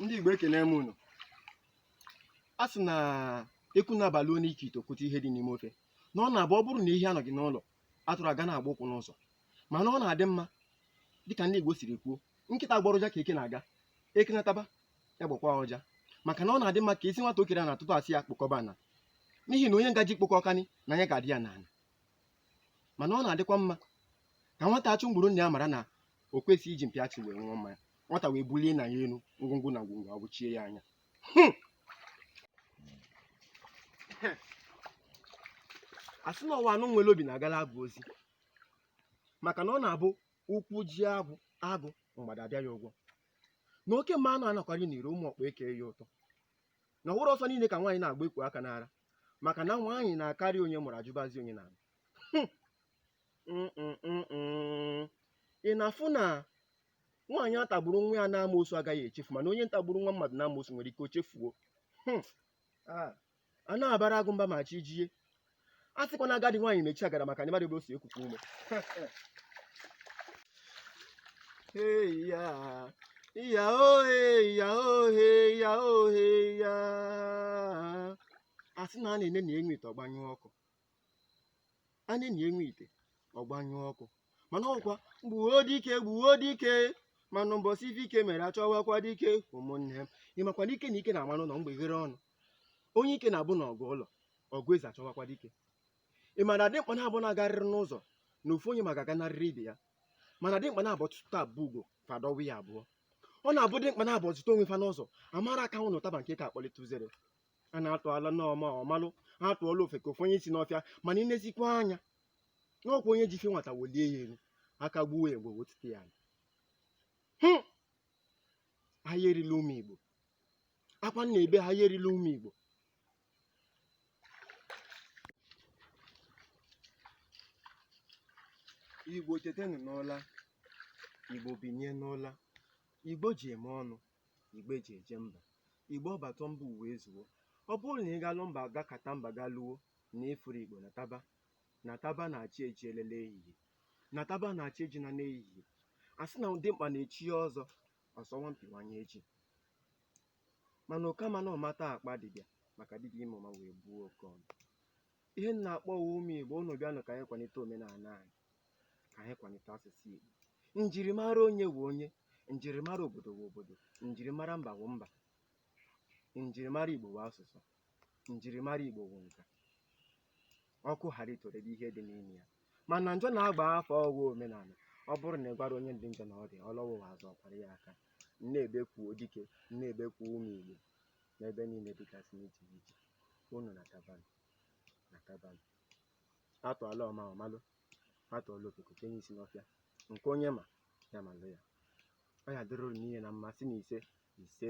ndị Igbo ekene m unu a sị na ekwu na-abaluo n'ike ite o kwute ihe dị n'ime ofe na ọ na-abụ ọ bụrụ na ehi anọghị n'ụlọ atụrụ aga na-agba ụkwụ n'ụzọ mana ọ na-adị mma dịka ndị Igbo siri kwuo nkịta gbọrọ ụja ka eke na-aga eke nataba ya gbakwa ụja maka na ọ na-adị mma ka esi nwata okere na atụtụ asị ya kpokọbana n'ihi na onye ngaji kpokọ ọkani na anya ga-adị ya n'ala mana ọ na-adịkwa mma ka nwata achụ mgburu nna ya mara na o kwesịghị iji mpi achụ wee ṅụọ mmanya nwata wee bulie nna ya elu ngwongwo na ngwongwo awụchie ya anya Hmm! asị na ọ wụ anụ nwere obi na-agala agụ ozi maka na ọ na-abụ ụkwụ jie agwụ agụ mgbada abịa ya ụgwọ na oke mmanwụ anakwari n'iro ụmụ ọkpa eke ya ụtọ na ọ wụrọ ọsọ niile ka nwaanyị na-agba ekwu aka n'ara maka na nwaanyị na-akarị onye mụrụ ajụbazi onye na-alụ ị na-afụ na nwaanyị a tagburu nwa ya n'amoosu agaghị echefu mana onye ntagburu nwa mmadụ n'amoosu nwere ike o chefuo hmm. ah. a na-abara agụ mba ma chi jie a sịkwa na agadi nwaanyị mechie agara maka na ị madụ ebe o si ekukwa ume Hey ya, ya oh hey ya oh hey ya oh hey ya. Asị na a na-enenia nwa ite ọ gbanyụọ ọkụ. A na-enenia nwa ite ọ gbanyụọ ọkụ. Mana ọkwa gbuo dike gbuo dike mana mbọsị ife ike mere achọwakwa dike ụmụnne m. Ị makwa na ike na ike na-ama n'ụlọ mgbe ghere ọnụ. Onye ike na-abụ na ọgụ ụlọ ọgụ ezi achọwakwa dike. ị ma na dimkpa naabụ na-agarịrị n'ụzọ na ofu onye ma ga-aganarịrị ibe ya mana dimkpa naabụ tụta abụ ugo fa dọwa ya abụọ ọ na-abụ dimkpa naabụ zuta onwe fa n'ụzọ amara aka nwụrụ ụtaba nke ka akpọlite uzere a na-atụala ọma ọ malụ a tụọla ofeke o fenye isi n'ọfịa mana ịnezikwa anya na ọkwa onye ji ife nwata welie ya elu aka gbuo ya mgbu o wetute ya ala. Hụ! ahịa erila ụmụ igbo akwa nna ebe ahịa erila ụmụ igbo Igbo tetenụ n'ụla, Igbo binye n'ụla, Igbo eji eme ọnụ, Igbo eji eje mba, Igbo ọ bata mba o wee zuo. Ọ bụrụ na ị galụ mba gakata mba galuo na ịfụrọ Igbo nataba nataba na chi ejiela n'ehihie nataba na chi ejina n'ehihie a sị na dimkpa na-echie ọzọ ọsọ nwampiwanye echi mana oke amana ụma ata akpa dibịa maka dibịa ịma ụma wee bụọ oke ọnụ ihe m na-akpọ wụ ụmụ igbo unu bịanụ ka anyị kwalite omenala anyị ka anyị kwalite asụsụ igbo njirimara onye wụ onye njirimara obodo wụ obodo njirimara mba wụ mba njirimara igbo wụ asụsụ njirimara Igbo wụ nka ọkụ ghara itorede ihe dị n'ime ya mana njọ na-agba afọ ọ ghọọ omenala ọ bụrụ na ị gwara onye dị njọ na ọ dị ọ lọwa ụwa ọzọ ọ kwara ya aka m na-ebeku dike m na-ebeku ụmụ Igbo n'ebe niile dịgasị n'iche n'iche unu natabanụ natabanụ a tụọla ọma ọ malụ a tụọla ofeke o kenye isi n'ọfịa nke onye ma ya malụ ya ọ ya-adịrị unu niile na mma sị na ise ise